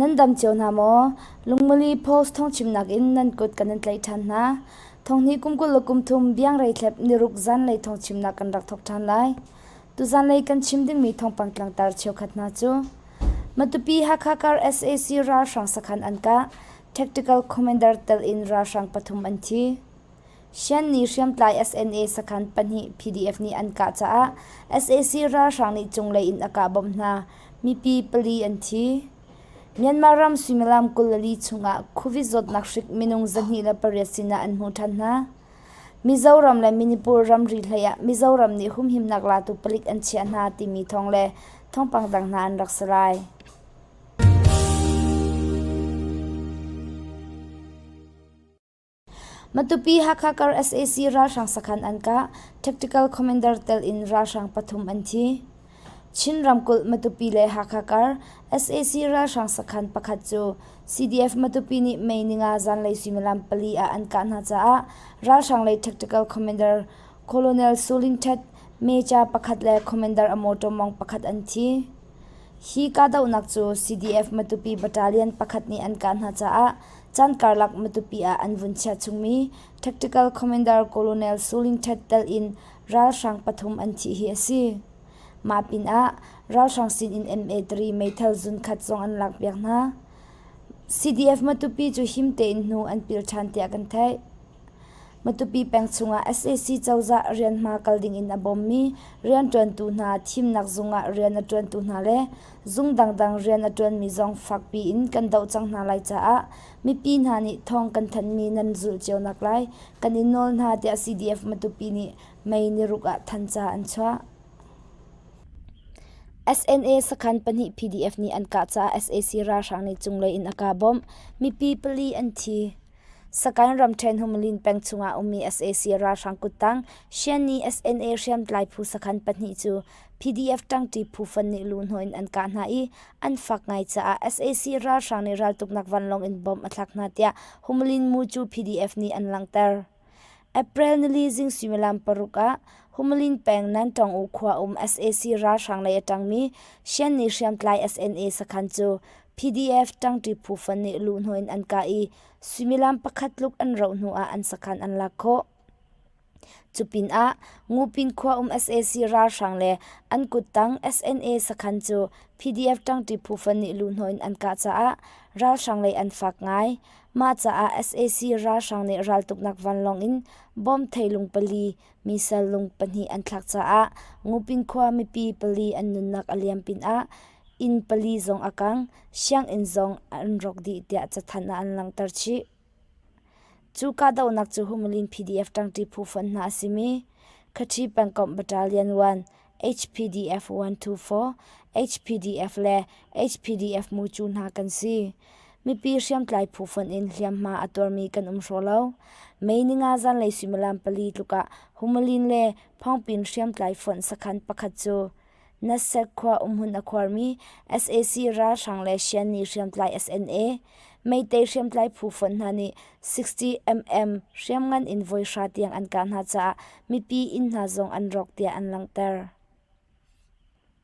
Nan dam cio hna maw? Lungmali post thongchimnak in nan kut kan in tlaih ṭhan hna. Thonghni kum kul le kum thum biang rei thlep niruk zan lei thongchimnak kan rak thok ṭhan lai. Tuzan lei kan chim dingmi thawngpang tlangtar cheukhat hna cu Matupi Hakha kar sac ralhrang sakhan an kah tactical commander tel in ralhrang pathum an thi Shanni hriamtlai SNA sakhan pahnih PDF nih an kah caah sac ralhrang nih cunglei in a kah bom hna mipi pali an thi Myanmar ram suimilam kul le li chungah Covid zawtnak hrik minung zahnih le pariat sinah an hmu ṭhan hna Mizoram le Manipur ramri hleiah Mizoram nih humhimnak latu palik an chiah hna timi thawng le thawngpang dang hna an rak si lai. Matupi Hakha kar sac ralhrang sakhan an kah, tactical commander tel in ralhrang pathum an thi. Chin ramkulh Matupi le Hakha kar sac ralhrang sakhan pakhat cu CDF Matupi nih May ninga zanlei suimilam pali ah an kah hna caah ralhrang lei tactical commander Colonel Sulintet Mecha pakhat le commander a mawṭaw mawng pakhat an thi. Hi kahdohnak cu CDF Matupi battalion pakhat nih an kah hna caah caan karlak Matupi ah an vun chia chungmi tactical commander Colonel Sulintet telin ralhrang pathum an thih hi a si. Mah pinah ralhrang sinin MA3 meithal zunkhat zong an lakpiak hna. CDF Matupi cu him tein hnu an pil ṭhan tiah kan theih. Matupi peng chungah sac cozah rian hma kal dingin a bawmmi rianṭuantu hna thimnak zungah rian a ṭuantu hna le zung dangdang rian a ṭuanmi zong fakpiin kan doh cang hna lai caah Mipi hna nih thawng kan thanmi nan zulh cio nak lai. Kan i nawl hna tiah CDF Matupi nih May niruk ah than ca an chuah. SNA sakhan pahnih PDF nih an kah caah sac ralhrang nih cunglei in a kaa bawmh. Mipi pali an thi. Sakain ramṭhen Humalin peng chungah ummi sac ralhrang kuttang Shiani SNA hriamtlai phu sakhan pahnih cu PDF ṭangṭi phufan nih luhhnawh in an kah hna i an fak ngai caah sac ralhrang nih raltuknak vanlawng in bom a thlak hna tiah Humalin mu cu PDF nih an langhter. April nili zing suimilam paruk ah Humalin peng Nantawng U khua um sac ralhrang lei a ṭangmi Shan nih hriamtlai SNA sakhan cu PDF ṭangṭi phufan nih luhhnawh in an kah i suimilam pakhat tluk an roh hnu ah an sakhan an lak khawh. Cupinah Ngupin khuaum sac ralhrang le an kuttang SNA sakhan cu PDF ṭangṭi phufan nih luhhnawh in an kah caah ralhrang lei an fak ngai. Mah caah sac ralhrang nih raltuknak vanlawng in bom theilung pali misal lung pahnih an thlak caah Ngupin khua mipi pali an nunnak a liam pinah inn pali zong a kang, sianginn zong an rawk dih tiah cathanh ah an langhter chih. Cu kahdohnak cu Humalin PDF ṭangṭi phufonh hna a simi Khaṭi pengkomh battalion 1 HPDF-124, HPDF le HPDF Mucu hna kan si. Mipi hriamtlai phufonh in hliamhma a tuarmi kan um hraw lo. May ninga zanlei suimilam pali tluk ah Humalin le Phawngpin hriamtlai fonh sakhan pakhat cu Nasdaq khua umhmun a khuarmi sac ralhrang le Shan nih hriamtlai SNA, Meitei hriamtlai phu fonh hna nih 60mm hriamngan in voi hra tiang an kah hna caah mipi inn hna zong an rawk tiah an langhter.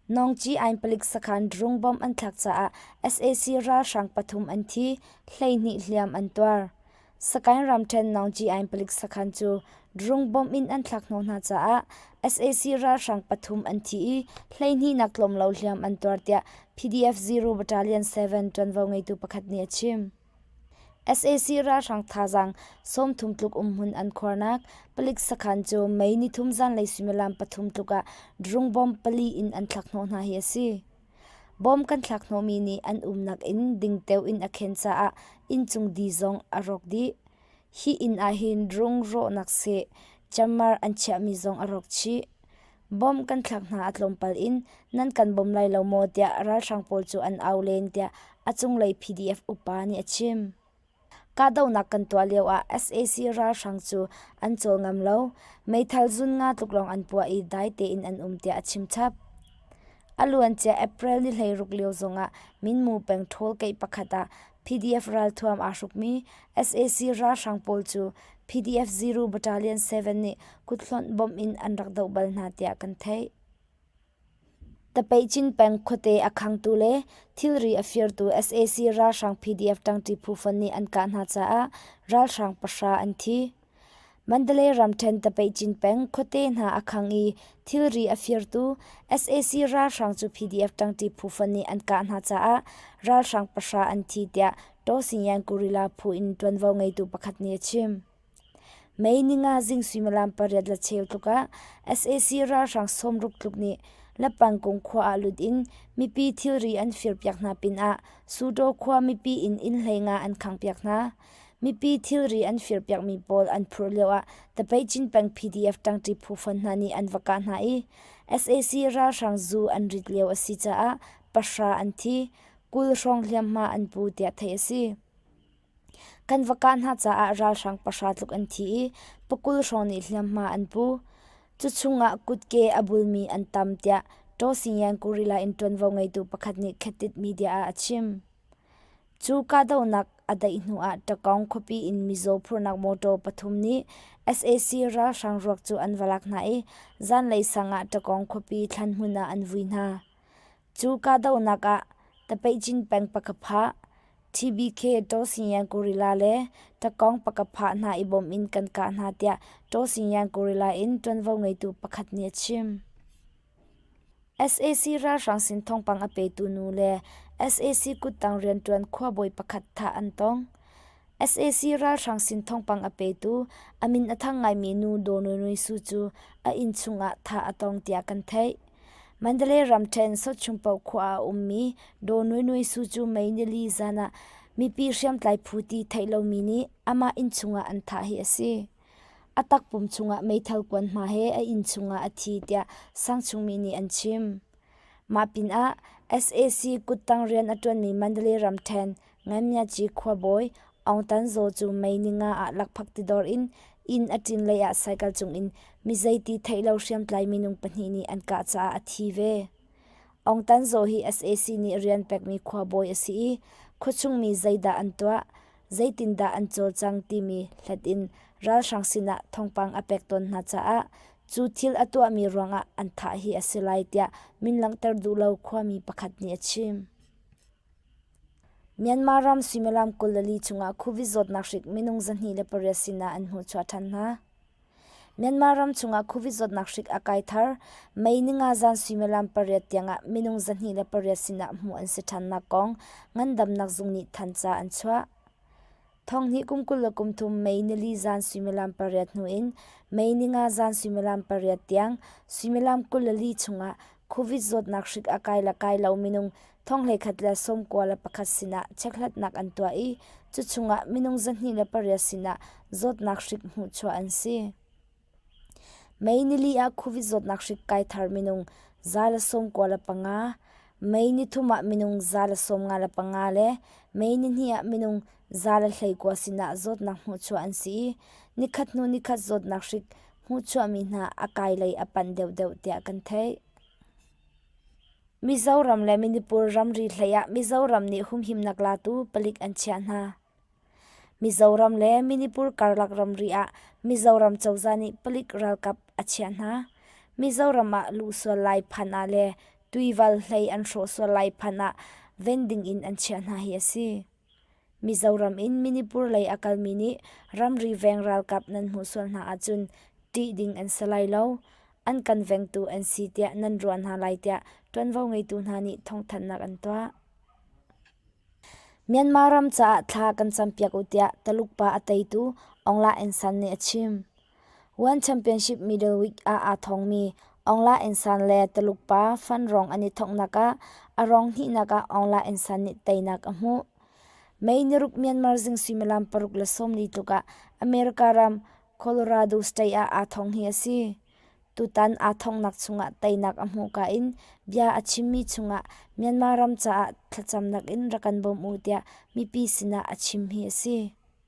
Nongci-ain palik sakhan drone bomb an thlak caah sac ralhrang pathum an thi, hleihnih hliam an tuar. Sakain ramṭhen Nongci-ain palik sakhan cu drone bomb in an thlak hnawh hna caah sac ralhrang pathum an thi i hleihnihnak tlawmlo hliam an tuar tiah PDF-0 Battalion 7 ṭuanvo ngeitu pakhat nih a chim. sac ralhrang thazaang sawmthum tluk umhmun an khuarnak palik sakhan cu Mei nithum zanlei suimilam pathum tluk ah drone bomb pali in an thlak hnawh hna hi a si. Bawm kan thlak hnawmi nih an umnak in dingteo in a khen caah inncung di zong a rawk dih. Hi inn ahhin drung rawhnak seh ciammar an chiahmi zong a rawk chih. Bawm kan thlak hna a tlawmpal in nan kan bawm lai lo maw tiah ralhrang pawl cu an au len tiah a cunglei PDF upa nih a chim. Kahdohnak kan tuah lioah sac ralhrang cu an cawl ngam lo. Meithal zun nga tluk lawng an puah i dai tein an um tiah a chim chap. A luancia April ni hleiruk lio zongah Minmu peng ṭhawlkeih pakhat ah PDF ralthuam aa hrukmi sac ralhrang pawl cu PDF Zero Battalion 7 nih kuthlonh bawmh in an rak doh bal hna tiah kan theih. Tapeicin peng khuate a khangtu le thilri a firtu sac ralhrang PDF ṭangṭi phu fon nih an kah hna caah ralhrang pahra an thi. Mandalay ramṭhen Tapeicin peng khuate hna a khang i thilri a firtu sac ralhrang cu PDF ṭangṭi phu fon nih an kah hna caah ralhrang pahra an thi, tiah Taw Sing Yan Guerrilla phu in ṭuanvo ngeitu pakhat nih a chim. May ninga zing suimilam pariat le cheu tluk ah sac ralhrang sawmruk tluk nih Lapangkung khua ah lut in mipi thilri an firpiak hna pinah Sutaw khua mipi in innhlei nga an khangpiak hna. Mipi thilri an firpiakmi pawl an phurh lioah Tapaicin peng PDF ṭangṭi phu fon hna nih an va kah hna i sac ralhrang zu an rit lio a si caah pahra an thi, kul hrawng hliamhma an pu tiah theih a si. Kan va kah hna caah ralhrang pahra tluk an thi i pakul hrawng nih hliamhma an pu. Cuchung ah kutke a bulmi an tam tiah Taw Sing-yan Guerrilla in ṭuanvo ngeitu pakhat nih Khatit media ah a chim. Cu kahdohnak a daih hnu ah Takong khuapi in mizaw phurnak mawṭaw pathum nih sac ralhrang ruak cu an va lak hna i zanlei sang ah Takong khuapi thlanhmun ah an vui hna. Cu kahdohnak ah tapeihcin peng pakhat phah, TBK Ṭawsingyang Gorilla le takong pakhat phah hna i bawm in kan kah hna tiah Ṭawsingyang Gorilla in ṭuanvo ngeitu pakhat nih a chim. sac ralhrang sin thawngpang a petu nu le sac kuttang rianṭuan khuabawi pakhat thah an tong. sac ralhrang sin thawngpang a petu a min a thang ngaimi nu Daw Nui Nui Su cu a inn chungah thah a tong tiah kan theih. Mandalay ramṭhen Sotchungpo khua ah a ummi Daw Nui Nui Su cu May nili zan ah mipi hriamtlai phu ti theih lomi nih amah inn chungah an thah hi a si. A takpum chungah meithal kuan hma he a inn chungah a thi tiah sangchungmi nih an chim. Mah pinah sac kuttang rian a ṭuanmi Mandalay ramṭhen Nganyatchi khuabawi Aung Tan Zaw cu May ni nga ah lakphak tidor in inn a ṭin lei ah cycle cungin mizeiti theih lo hriamtlai minung pahnih nih an kah caah a thi ve. Aung Tan Zaw hi sac nih rian pekmi khuabawi a si i khuachung mi zeidah an tuah? zeitindah an cawlcang timi hlat in ralhrang sinah thawngpang a pek tawn hna caah cu thil a tuahmi ruangah an thah hi a si lai tiah min langhter duh lo khuami pakhat nih a chim. Myanmar ram suimilam kul le li chungah Covid zawtnak hrik minung zahnih le pariat sinah an hmuhchuah ṭhan hna. Myanmar ram chungah Covid zawtnak hrik a kai thar. May ni nga zan suimilam pariat tiangah minung zahnih le pariat sinah hmuh an si ṭhannak kong ngandamnak zung nih thanca an chuah. Thonghnih kum kul le kum thum May nili zan suimilam pariat hnu in May ni nga zan suimilam pariat tiang suimilam kul le li chungah Covid zawtnak hrik a kai le kai lo minung Thong hleikhat le sawm kua le pakhat sinah chekhlatnak an tuah i cu chungah minung zahnih le pariat sinah zawtnak hrik hmuh chuah an si. Mei nili ah khuvi zawtnak hrik kai thar minung za le sawm kua le panga, mei ni thum ah minung za le sawm nga le panga le mei ni hnih ah minung za le hlei kua sinah zawtnak hmuh chuah an si i nikhat hnu nikhat zawtnak hrik hmuh chuahmi hna a kai lei a panh deuhdeuh tiah kan theih. Mizoram le Manipur ramri hleiah Mizoram nih humhimnak latu palik an chiah hna. Mizoram le Manipur karlak ramri ah Mizoram cozah nih palik ralkap a chiah hna. Mizoram ah luh sual lai phan ah le tuival hlei an hrawh sual lai phan ah vending in an chiah hna hi a si. Mizoram in Manipur lei a kalmi nih ramri veng ralkap nan hmuh sual hna ahcun ṭih ding an si lai lo. An kan vengtu an si tiah nan ruah hna lai tiah ṭuanvo ngeitu hna nih thawngthanhnak an tuah. Myanmar ram caah thla kan campiak u tiah Taluk pa a teitu Aung La Aung San nih a chim. One Championship middleweight ah aa thawngmi Aung La Insan le Taluk pa Phan Rong an i thawknak ah a rong hnihnak ah Aung La Insan nih teinak a hmuh. May naruk Myanmar zing suimilam paruk le sawmli tluk ah America ram Colorado state ah aa thawng hi a si. Tutan aa thawknak chungah teinak a hmuhka in bia a chimmi chungah Myanmar ram caah thlacamnak in rak kan bawm u tiah mipi sinah a chim hi a si.